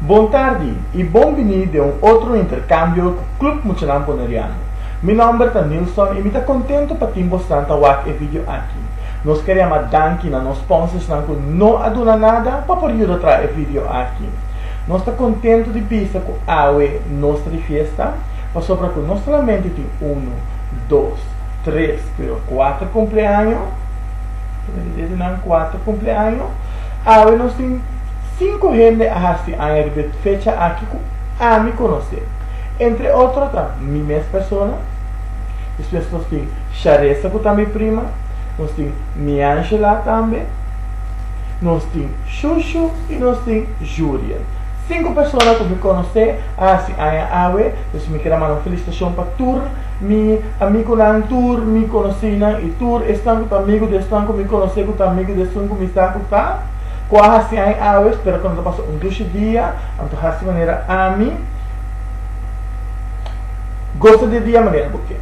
Bon tardi y bon bini den un otro intercambio cu Club Muchanan Boneriano. Mi nomber ta Nilson y mi ta contento pa tin bosnan ta wak e video aki. Nos ker yama danki na nos sponsorsnan cu no a duna nada pa por yuda traha e video aki. Nos ta contento di bisa cu awe nos ta di fiesta pasobra cu no solamente tin uno, dos, tres pero cuater cumpleaño. den dia di nan kuater kumpleaño. Awe nos tin sinku hende a hasi aña riba e fecha aki ku ami konosé. Entre otro ta mi mes persona, despues nos tin Sharesa ku ta mi prima, nos tin Miangela tambe, nos tin Shushu i nos tin Juriel. Sinku persona ku mi konosé a hasi aña awe, dus mi kira manda un felisitashon pa tur. Mi amigunan tur mi konosínan i tur esnan ku ta amigu di esnan ku mi konosé ku ta amigu di esun ku mi sa ku ta, ku a hasi aña awes, pero ku no ta pasa un dushi dia, anto hasi manera ami gosa di e dia manera bo ke.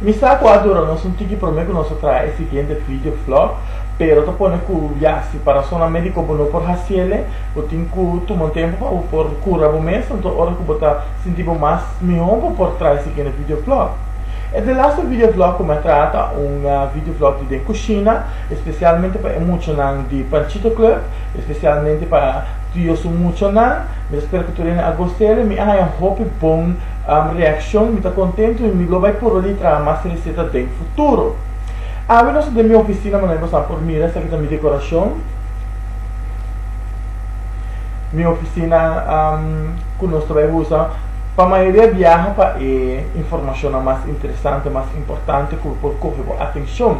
Mi sa ku a dura nos un tiki promé ku nos a traha e siguiente video vlog, pero ta pone ku ya si pa rasonnan médiko bo no por hasi el'e, bo tin ku tuma un tempu pa bo por kura bo mes, anto ora ku bo ta sinti bo mas Mi hopi por trai sikindo videoblog. E delaster videoblog ku mi a traha ta un videoblog di den kushina, espesialmente pa e muchanan di Panchito Club, espesialmente pa Tio su muchanan. Mi ta spera ku tur hende a gost'el. Mi a haña hopi bon reakshon. Mi ta kontentu i mi lo bai purba di traha mas reseta den futuro. Awe nos ta den mi ofisina manera ku boso por mira. Esaki ta mi dekorashon. Mi ofisina. ku nos ta bai usa pa mayoria biaha pa e informashonnan mas interesante, mas importante ku por kohe bo atenshon,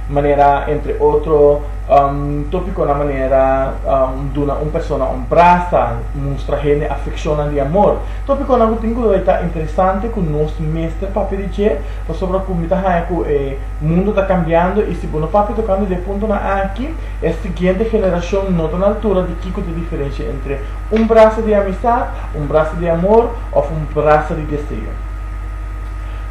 manera entre otro topikonan manera duna un persona un brasa, mustra hende afekshonnan di amor. Topikonan ku tin ku bai ta interesante ku nos mester papia di dje pasobra ku mi ta haña ku e mundu ta kambiando i si bo no papia tokante di e puntonan aki e siguiente generashon no ta na altura di kiko ta e diferensha entre un brasa di amistat, un brasa di amor of un brasa di deseo.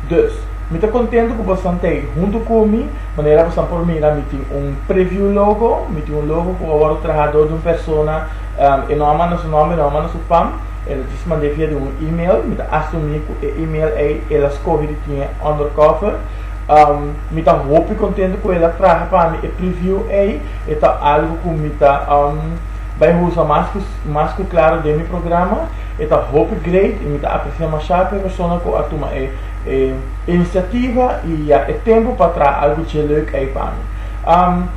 Dus, mi ta contento cu bosan ta ey hunto cu mi, manera bosan por mira mi tin un preview logo, mi tin un logo cu a wordo traha door di un persona, e no a manda su nomber, e no a manda su pam, e lo djis mand'e via di un email, mi ta asumi cu e email ey el a scoge di tin e undercover, mi ta hopi contento cu el a traha pa mi e preview ey, e ta algo cu mi ta. Bai husa mas cu mas cu claro den mi programa. E ta hopi great y mi ta aprecia masha cu e persona cu a tuma e e iniciativa y ya e tempo pa traha algo dje leuk ey pa mi. Am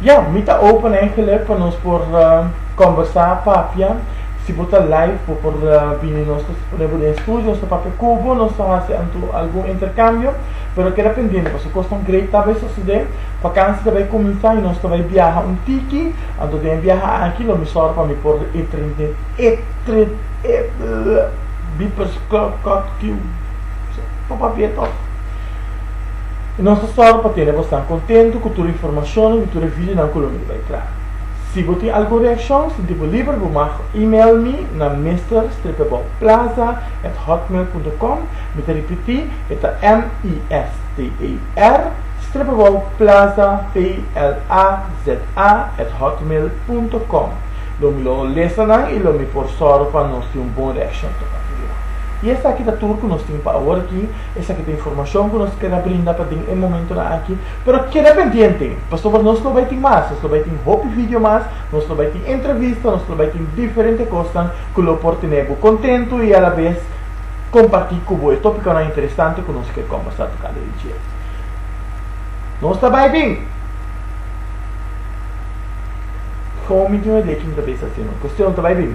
ya mi ta open eigenlijk pa nos por combersa, papia. Si bo ta live bo por bini nos ta pone bo den estudio, nos ta papia cu bo, nos ta haci anto algun intercambio. Pero keda pendiente pasobra cosnan great ta bay sucede. Vakantie ta bay cuminsa y nos ta bay biaha un tiki. Anto den e biaha aki lo mi sòru pa mi por e tren den e tren e beepers klòk klòk kiu pa papia tòg. I nos ta sòru pa tene bosnan kontentu ku tur e informashonnan i tur e videonan ku lo miri bai traha. Si bo tin algun reakshon sinti bo liber bo mag email mi na mister-bouwplaza@hotmail.com mi ta ripití e ta m-i-s-t-e-r-bouwplaza p-l-a-z-a. a at hotmail punto com lo mi lo lesa nan y lo mi por sorgo pa nos tin un bon reaccion ta papia di nan. Y esaki ta tur cu nos tin pa awor aki, esaki ta informacion cu nos keda brinda pa den e momentonan aki, pero keda pendiente pasobra nos lo bay tin mas, nos lo bay tin hopi video mas, nos lo bay tin entrevista, nos lo bay tin diferente cosnan cu lo por tene bo contento y a la vez comparti cu bo e topiconan interesante cu nos kier conversa tocando e dje. Nos ta bay bin! Komo mi duna di aki mi ta bisa asina. Kustion ta bai bini.